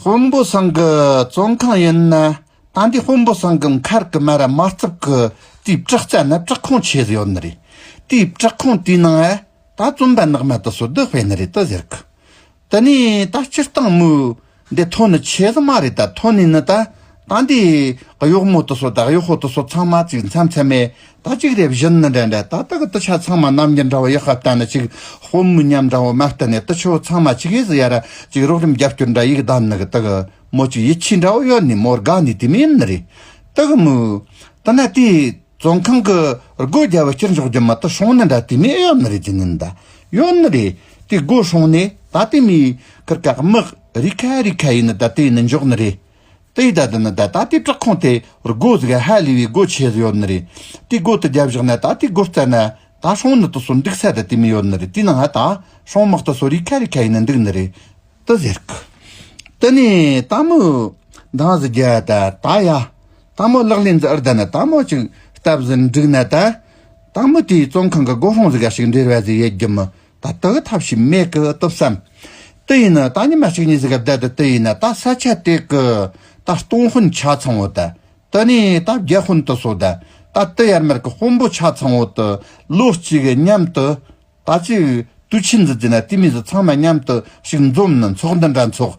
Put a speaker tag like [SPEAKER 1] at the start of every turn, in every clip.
[SPEAKER 1] ཧོང་པོ་སང་གི་བཙོན་ཁང་ཡིན་ན་ད་འདི་ཧོང་པོ་སང་གི་མཁར་གི་མ་ར་མ་རྩིབས་གི་དེའི་བྲག་རྩ་ན་བྲག་ཁུང་ཆེ་ཟེར་ཡོད་ནི་རེད་དེའི་བྲག་ཁུང་དེའི་ནང་ཨ་ད་བཙོན་པ་ནག་མ་དེ་སོ་སྡོད་སྤེལ་ནི་རེད་དུ་ཟེར་གི་དེ་ནས་ད་སྤྱིར་བཏང་མོའི་འདི་ཐོ་ནི་ཆེ་ཟི་མ་རེད་ད་ཐོ་ནས་ནི་ད་ཏང་དེ། གཡོག་མོ་དུ་སོ་བདག་གཡོག་ཧོ་དུ་སོ་ཚང་མ་གཅིག་མཚམས་མཚན་མས་ད་གཅིག་རེ་བཞིན་ནི་འདྲ་འདྲ་ད་ད་གི་ཏི་ཆ་ཚང་མ་རྣམ་གཉིས་འདྲ་བོ་ཡག་ཧ་བལྟ་ནི་གཅིག་དཔོན་མི་ཉམས་འདྲ་བོ་མ་བལྟ་ནི་ཏི་ཆོས་ཚང་མ་གཅིག་ཨེ་ཟི་ཡ་ར་གཅིག་རོགས་རིམ་རྒྱབ་སྐྱོར་འདྲ་ཡིག་བདམས་ནི་གི་ཏི་གི་མོ་གཅིག་ཡིད་ཆེས་འདྲ་བོ་ཡོད་ནི་མོ་དགའ་ནི་དེ་མིན་ནི་རེད་ཏི་གི་མོ། ཏི་ན་ཏི། བཙོན་ཁང་གི་སྒོ་རྒྱབ་བ་སྤྱིར་འཇོག་རྒྱུ་མི་ཏི་སྲོང་ནི་འདྲ་དེ་མིན་ཡོད་ནི་རེད་ཅི་ནི་འདའ་ཡོད་ནི་རེད་ཏི་སྒོ་སྲོང་ནི་ད་དེ་མིན་ཀི་ཀག་མིག་རིག་ཁ་རིག་ཁ་ཡིན་ནི་ད་དེ་ནི་འཇོག་ནི་རེད། དེའི་བརྡ་དེ་ནི་ད་ལྟ་དེའི་བྲག་ཁུང་དེ་རྒོ་གཟུགས་ཧ་ལས་པའི་སྒོ་ཆེ་ཟིག་ཡོད་ནི་རེད། དེའི་སྒོ་དེ་བརྒྱབ་བཞག་ན་ད་དེའི་སྒོ་རྩ་ན་ད་ཧྲོང་ནི་དུ་སོ་འགྲིག་ས་དེ་དེ་མི་ཡོད་ནི་རེད་དེའི་ནང་ཧ་ད་ཧྲོང་དམག་དུ་སོ་རིག་ཁ་རིག་ཁ་ཡིན་ནི་འདུག་ནི་རེད། དུ་ཟེར་གི། དེ་ནས་ད་མོ། འདང་ཟིག་རྒྱལ་ད་ད་ཡ། ད་མོ་ལག་ལེན་འཛི་ཨར་ད་ནི་ད་མོ་ཅིག་བཏབ་ཟིན་འགྲིག་ན་ད། ད་མོ་དེའི་བཙོན་ཁང་གི་སྒོ་ཧྲོང་ཟིག་ག་ཞིག་འབྲེལ་བ་ཟིག་ཡོད་རྒྱུ་མི་ད་ལྟ་གི་ཐབས་ཤིག་མེད་གི་སྟོབས་སམ། ཏི་ཡིན་ན་ད་ཉི་མ་གཅིག་གཉིས་ཟིག་གི་བརྡལ་དུ་ཏི་ཡིན་ན་ད་ས་ཆ་དེ་གི་ད་སྟོང་དཔོན་ཆ་ཚང་བོ་དད་ཏི་ནས་ད་བརྒྱད་དཔོན་དུ་སོ་དད་ད་ཏི་ཡར་མར་གི་དཔོན་པོ་ཆ་ཚང་བོ་དུ་ལོ་གཅིག་གི་མཉམ་དུ་ད་ཅི་དུས་ཆེན་ཟིག་བརྩིས་ན་ཏི་མི་ཟིག་ཚང་མ་མཉམ་དུ་ཞིག་འཛོམས་ནི་འཚོགས་འདི་འདྲ་འཚོགས་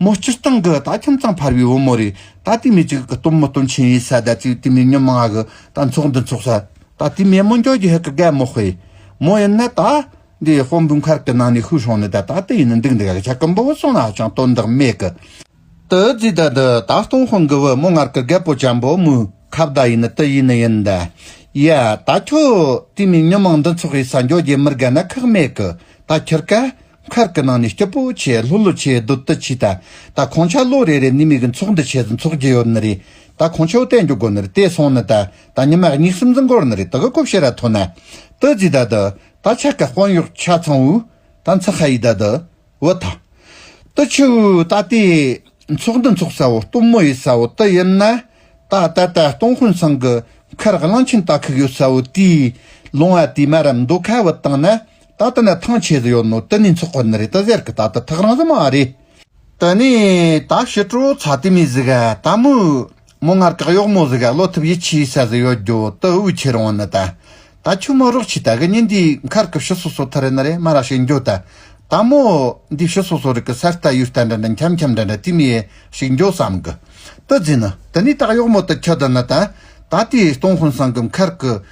[SPEAKER 1] མོ་སྤྱིར་བཏང་གི་ད་ཁྱིམ་ཚང་འཕར་བའི་བུ་མོ་རེད་ད་ལྟའི་མི་གཅིག་གི་སྟོན་མོ་སྟོན་ཆེན་ཡིན་ས་ད་ཚེའི་དུས་མི་ཉུང་མ་ང་གི་ད་འཚོགས་འདི་འཚོགས་ས་ད་ལྟའི་མེས་མོ་འགྱོགས་ཀྱི་ཧི་ཀི་གད་མོ་སྤེ་མོ་ཡིན་ན་ད། འདི་དཔོན་པོའི་མཁར་གི་ནང་ནས་ཤུགས་ཧྲོང་ནས་ད་ད་ལྟ་ཡིན་ན་འདུག་འདི་ག་གི་ཆ་ཀུན་པོ་བུ་སོང་ན་ཧ་ཅང་དོན་དག་མེད་གི། དུ་རྫིས་ད་འདི་ད་སྟོང་དཔོན་གི་བུ་མོ་མཁར་གི་གད་པོ་ཅན་པོ་མོའི་ཁ་བརྡ་ཡིན་ན་དུ་ཡིན་ན་ཡིན་ད། ཡ། ད་ཁྱོད་ལྟའི་མི་ཉུང་མ་འདི་འཚོགས་ཡིན་ས་འགྱོགས་ཀྱི་མི་རྒན་ན་ཁག་མེད་གི་ད་ཁྱིར་ག། མཁར་གྱི་ནང་ནས་སྐྱིད་པོ་ཆེ་ལྷོད་ལྷོད་ཆེ་སྡུག་སྡུག་ཆེ་ད་ད་ཁོང་ཆགས་ལོ་རེ་རེ་ནི་མིག་གི་མཚོག་འདི་ཆེ་ཟིན་མཚོག་རྒྱུ་ཡོད་ནི་རེད་ད་ཁོང་ཆོས་བསྟན་རྒྱུ་དགོ་ནི་རེད་དེ་སོང་ནི་ད་ད་ཉི་མ་གཉིས་སིམ་འཛིན་གོར་ནི་རེད་ད་གི་ཀོབ་ཤེ་ར་ཐོ་ན་ཏི་རྫི་ད་ད་ད་ཆ་ག་དཔོན་གཡོག་ཆ་ཚང་བུ་ད་མཚི་ཁ་ཡི་ད་ད་བུ་ད་ཏི་ཆུ་བུ་ད་ཏི་མཚོག་འདི་མཚོག་ས་བོ་སྟོང་མོ་ཡི་ས་བོ་ཏི་ཡིན་ན་ད་ད་ད་སྟོང་ཧོན་སང་གི་མཁར་གླང་ཆེན་ད་ཁུག་ཡོད་ས་བོ་དེའི་ལུང་བ་དེའི་མ་རམ་མདོ་ཁ་བུ་བཏང་ན་ད་ལྟ་ནི་ཐང་ཆད་ཟི་ཡོད་ནོ་དི་ནི་འཚོགས་པ་ནི་རེད་ད་ཟེར་གི་ད་ལྟ་ཐག་རང་ཟི་མ་རེད། དི་ནི་ད་ཞི་ཀྲོ་ཚ་དི་མི་ཟི་ག་ད་མོ་མོ་ངར་གག་ཡོག་མོ་ཟི་ག་ལོ་ཐིབ་ཡི་ཆི་ས་ཟི་ཡོད་རྒྱོ་དི་དབུ་ཆི་རང་ནི་ད་ད་ཆུ་མོ་རོག་ཆི་ད་གི་ནི་འདི་མཁར་གི་ཕྱི་སོ་སོ་ཐི་རི་ནི་རེད་མ་ར་ཞིག་འགྱོ་ད་ད་མོ་འདི་ཕྱི་སོ་སོ་རི་གི་སར་རྟ་ཡུ་རྟ་འདྲ་འདྲ་འཁྱམ་འཁྱམ་འདྲ་འདྲ་དི་མི་ཡེ་ཞིག་འགྱོ་བསམ་གི་དི་ཟི་ནི་དི་ནི་ད་ཡོག་མོ་དི་ཁྱི་དི་ནི་ད་ད་དེ་སྟོང་ཧོན་སང་གི་མཁར་གི།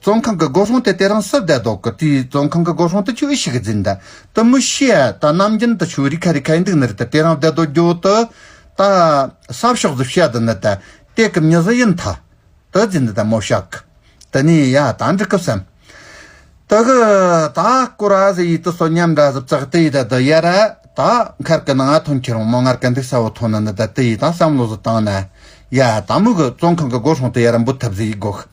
[SPEAKER 1] ཙོང་ཁང་གི་སྒོ་ཧྲོང་དེ་དེ་རིང་སི་བདལ་དོག་གི་དུས་ཙོང་ཁང་གི་སྒོ་ཧྲོང་དུ་ཆུ་ཤིག་འཛིན་ད་དུ་མི་ཤི་ཨ་ད་ནམ་རྒྱུན་དུ་ཆུ་རི་ཁ་རི་ཁ་ཡི་འདུག་ནི་རི་དེ་དེ་རིང་བདལ་དོག་རྒྱོ་དུ་ད་སབ་ཤོག་ཟི་བཤའ་དུ་ནི་ད་ཏེ་གི་མྱི་ཟི་ཡིན་ཐ་དུ་རྫི་འདི་ད་མོ་བཤའ་གི་དུ་ནི་ཡ་ད་འདྲི་གི་བསམ་དུ་གི་ད་ཀུ་ར་ཟི་ཡི་དུ་སོ་ཉམས་འདྲ་ཟི་བཙག་དི་ཡི་ད་དུ་ཡ་ར་ད་མཁར་གི་ནང་ཨ་ཐོན་ཁྱི་རོང་མོ་ངར་ག་འདུག་ས་བོ་ཐོན་ནི་ནི་ད་དི་ཡི་ད་བསམ་བློ་ཟི་བཏང་ན་ཡ་ད་མོ་གི་ཙོང་ཁང་གི་སྒོ་ཧྲོང་དུ་ཡ་ར་འབུད་ཐུབ་ཟི་ཡི་སྒོ་ཤི།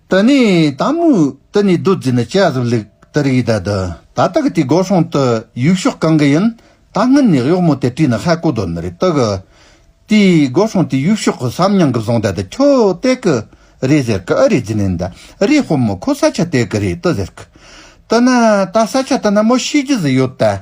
[SPEAKER 1] ད་ནི་ད་མུས་ད་ནི་བདུད་རྩི་ནི་ཅི་ཟིག་ལུག་ད་རིགས་ད་དུ་ད་ད་གི་དེ་སྒོ་སྲུང་དུ་ཡུག་ཤོག་གང་གི་ཡིན་ད་སྔོན་ནས་གཡོག་མོ་དེ་དྲིས་ན་ཧ་གོ་དོན་རེད་ད་གི་དེ་སྒོ་སྲུང་དེ་ཡུག་ཤོག་གི་སམ་ཉང་གི་བཟང་ད་དུ་ཁྱོ་དད་གི་རེད་ཟེར་གི་ཨ་རེ་རྫི་ནན་ད་རེ་ཧོ་མོ་ཁོ་ས་ཆ་དད་གི་རེད་ད་ཟེར་གི་ད་ན་ད་ས་ཆ་ད་ན་མོ་ཤེས་རྒྱུ་ཟིག་ཡོད་ད་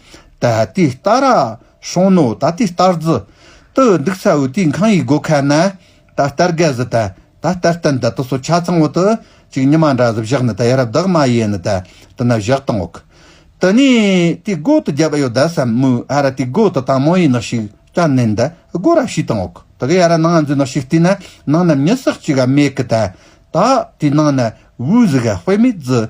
[SPEAKER 1] ད་ལྟའི་སྟར་ར་ཤོང་ནོ་ད་ལྟའི་སྟར་རྫི། དུ་འདུག་ཚ་བོའི་དུས་འཁང་ཡིག་སྒོ་ཁ་ན། ད་ལྟར་རྒ་བཟི་ད་ད་ལྟར་སྟན་ད་དུ་སོ་ཆ་ཚང་བོ་དུ་ཅིག་ཉི་མ་འདྲ་བཟི་བཞག་ནི་ད་ཡར་བདག་མ་ཡེ་ནི་ད་དུ་ན་བཞག་དང་འོག་དུ་ནས་དུས་སྒོ་དུ་རྒྱབ་ཨ་ཡོ་ད་བསམ་མོའི་ཨ་ར་དུས་སྒོ་དུ་དང་མོ་ཡི་ནག་ཤིག་ཀྱ་ནན་ད་སྒོ་ར་ཤིས་དང་འོག་དུ་གི་ཡ་ར་ནང་འཛུལ་ནག་ཤིག་ལྟུས་ན་ནང་ན་མྱི་སག་ཅིག་ག་མེད་གི་ད་ད་དུས་ནང་ན་བུའི་བཟི་ག་དཔེ་མེད་བཟི།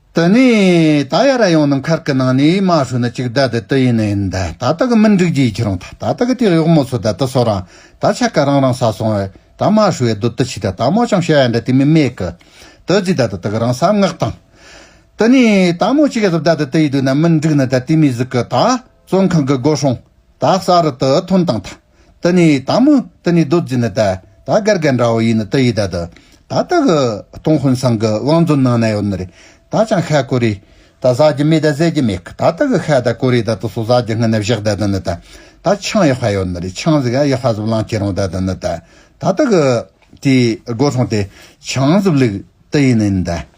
[SPEAKER 1] དེ་ནས་ད་ཡ་ར་ཡོང་ནམ་མཁར་གི་ནང་ནས་མ་ཧྲུ་ནི་ཅིག་ད་དེ་དུ་ཡིན་ནའི་ད་ད་ད་གི་མི་འགྲིག་རྒྱུའི་ཁྱི་རང་ད་ད་ད་གི་དེ་གཡོག་མོ་ཚོ་ད་དུ་སོ་རང་ད་ཆ་ག་རང་རང་ས་སོང་བས་ད་མ་ཧྲུ་ཡ་དུ་དུ་ཆི་ད་ད་མོ་ཅང་བྱ་ཡ་འདྲ་དེ་མི་སྨྲས་གི། དུ་རྫི་ད་དུ་དུ་གི་རང་ས་མངག་དང། དེ་ནས་ད་མོ་ཅིག་ཡ་ཟབ་ད་དུ་དུ་ཡི་དུ་ན་མི་འགྲིག་ན་ད་དེ་མི་ཟིག་གི་ད་བཙོན་ཁང་གི་སྒོ་ཧྲོང་ད་ས་རུ་དུ་ཐོན་དང་ད། ད་ནི་དང་མོ་ད་ནི་རྡོ་རྗེ་ནི་ད་ད་གར་གར་འདྲ་བ་ཡིན་ནི་ད་ཡི་ད་དུ་ད་ད་གི་སྟོང་ཧོན་སང་གི་བང་མཛོད་ནང་ན་ཡོད་ནི་རེད་ད་ཅང་ཤ་ཀོ་རེད་ད་བཟའ་རྒྱུ་མེད་ད་ཟས་རྒྱུ་མེད་གི་ད་ད་གི་ཤ་ད་ཀོ་རེད་ད་དུ་སོ་བཟའ་རྒྱུ་ཧང་ནི་བཞག་ད་དུ་ནི་ད་ད་ཆང་ཡག་ཤ་ཡོད་ནི་རེད་ཆང་གཟིག་ཨ་ཡག་ཤ་གཟུབ་ལང་ཁྱེད་རང་ད་དུ་ནི་ད་ད་ད་གི་དེའི་སྒོ་ཁྲོང་དེ་ཆང་གཟུབ་ལུགས་ད་ཡིན་ནི་ནི་ད།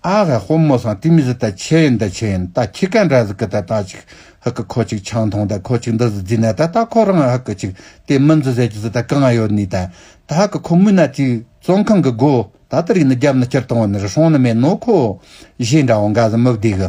[SPEAKER 1] ཨ་ཧ་ཧོ་མོ་སང་ཏིམ་ཟི་ད་ཆེ་ཡིན་འདི་ཆེ་ཡིན་ད་ཁྱི་ཀ་འདྲ་ཟི་ཀི་ད་ད་ཅིག་ཧི་ཀི་ཁོ་ཅིག་ཆང་འཐུང་ད་ཁོ་ཅིག་འདི་ཟི་རྫི་ན་ད་ད་ཁོ་རང་ཧི་ཀི་ཅིག་དེ་མི་འཛི་ཟེར་གྱི་ཟི་ད་གང་ཨ་ཡོད་ནི་ད་ད་ཧི་ཀི་ཁོ་མུན་ན་ཅིག་བཙོན་ཁང་གི་སྒོ་ད་ད་རིག་ནི་རྒྱབ་ནི་སྤྱིར་བཏང་བ་ནི་རི་སྲོང་ནི་མེད་ནོ་ཁོ་བཞེས་འདྲ་བ་འགའ་ཟི་མི་བདེ་གི།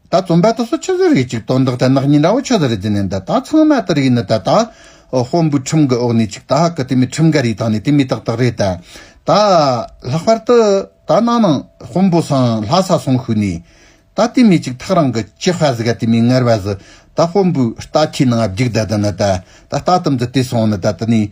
[SPEAKER 1] ད་རྩོམ་པ་ད་སོ་ཆུ་ཟོས་རིགས་ཅིག་དོན་དག་དེ་ནག་ཉེས་འདྲ་བོ་ཆུ་ཟོས་རེད་ཟེར་ནས་འདི་ད་ཚང་མ་དེ་རིགས་ཡིན་ནི་ད་ད། དཔོན་པོའི་ཁྲིམས་གི་འོག་ནས་ཅིག་ད་ཧ་གི་དེ་མི་ཁྲིམས་འགལ་རིགས་དང་ནི་དེ་མི་ཏག་ཏག་རེད་ད། ད། ལྷག་པར་དུ། ད་ནང་ནང། དཔོན་པོ་སང་ལྷ་ས་སོང་ཤུལ་ནས། ད་དེ་མི་ཅིག་ཐག་རང་གི་ཅི་ཧྥ་ཟི་ག་དེ་མི་ངར་བ་ཟི། ད་དཔོན་པོའི་རྟ་ཁྱི་ནང་ཨ་བརྒྱུགས་ད་དེ་ནི་ད། ད་རྟ་དམ་ཏི་དེ་སོང་ནི་ད་དེ་ནས།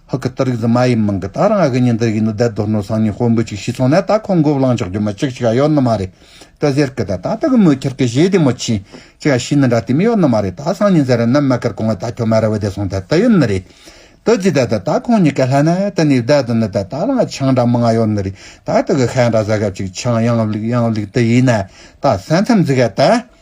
[SPEAKER 1] ཧཱུྃ་གི་གཏོར་རིགས་འཛིན་མ་ཡི་མིང་གི་ད་རང་ཨ་གི་ཉི་ཟླ་ཡིས་ནི་བརྡའི་རྡོར་ནོར་སང་ཉིན་དཔོན་པོ་ཅིག་ཤི་སོང་ནས་ད་ཁོང་མགོ་བླངས་ཆོག་རྒྱུ་མ་ཅིག་ཅིག་ཡ་ཡོད་ནི་མ་རེད་ད་ཟེར་གི་ད་ད་ད་གི་མོའི་ཁྱེར་ཀི་བཞེས་དེ་མོ་ཅིག་ཅིག་ཡ་ཤི་ནི་འདྲ་དེ་མི་ཡོད་ནི་མ་རེད་ད་སང་ཉིན་ཟེར་རེད་ནམ་མ་ཁར་གོང་ཨ་ད་ཁྱོད་མ་ར་བའི་དེ་སོང་ད་ད་ཡོད་ནི་རེད་ད་རྫི་ད་ད་ད་ཁོང་གཉིས་ཀ་ལྷ་ན་ད་ནི་བརྡའི་དུ་ནི་ད་ད་རང་ཨ་ཆང་འདྲ་མི་ང་ཡོད་ནི་རེད་ད་ད་གི་ཁ་འདྲ་ཟ་ག་ཅིག་ཆང་ཡང་བླུག་ཡང་བླུག་དེ་ཡིན་ན་ད་ས་མཚམས་འཛི་ག་ད།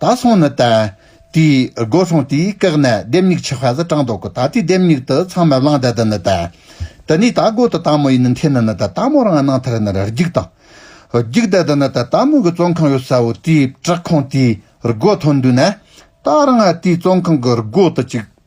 [SPEAKER 1] ད་སོང་ནི་ལྟ། དེས་སྒོ་སྲུང་དེས་བཀག་ན་ལྡེམ་མྱུག་ཆི་ཧ་ཟི་དྲང་ལྡོག་གི་ད་དེས་ལྡེམ་མྱུག་དུ་ཚང་མ་བླང་ད་དི་ནི་ལྟ། དི་ནས་ད་སྒོ་དི་ད་མོ་ཡི་ནི་འཐེན་ན་ནི་ད་ད་མོ་རང་སྣང་ཐར་ནི་ར་རྒྱུག་དང། རྒྱུག་ད་དི་ནི་ད་ད་མོ་གི་བཙོན་ཁང་ཡོད་ས་བོ་དེས་བྲག་ཁང་དེས་སྒོ་ཐོན་འདུག་ན། ད་རང་ཨ་དེས་བཙོན་ཁང་གི་སྒོ་དི་ཅིག་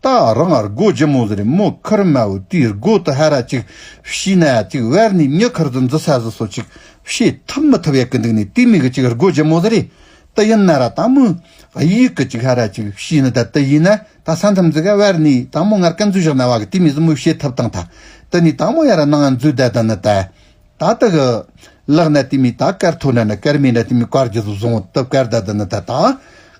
[SPEAKER 1] ཏཱ་རང་ཨར་གོ་ཇི་མོ་ཟེར་མོ་ཁར་མ་བུ་དུས་ཨར་གོ་དུ་ཧ་ར་ཅིག་བྱིས་ན་ཅིག་བར་ནས་མྱི་ཁར་དུ་འཛུ་ས་ཟུ་སོ་ཅིག་བྱེད་ཐུབ་མི་ཐུབ་ཡ་གི་འདུག་ནས་དུས་མི་གི་ཅིག་ཨར་གོ་ཇི་མོ་ཟེར་ཏི་ཡིན་ན་ར་ད་མོ་གཡི་གི་ཅིག་ཧ་ར་ཅིག་བྱིས་ན་ད་ཏི་ཡིན་ན་ད་ས་འཐམ་འཛི་ག་བར་ནས་ད་མོ་ངར་ཀ་འཛུ་བཞག་ན་བ་གི་དུས་མི་ཟུ་མོ་བྱེད་ཐུབ་དང་ད་ཏི་ནས་ད་མོ་ཡ་ར་ནང་ཨ་འཛུ་ད་ད་ན་ད་ད་ཏི་གི་ལག་ན་དུས་མི་ད་ཀར་ཐོ་ན་ན་ཀར་མེད་ན་དུས་མི་ཀར་ཇི་ཟུ་བཟུང་ཏུབ་ཀར་ད་ད་ན་ད་ད།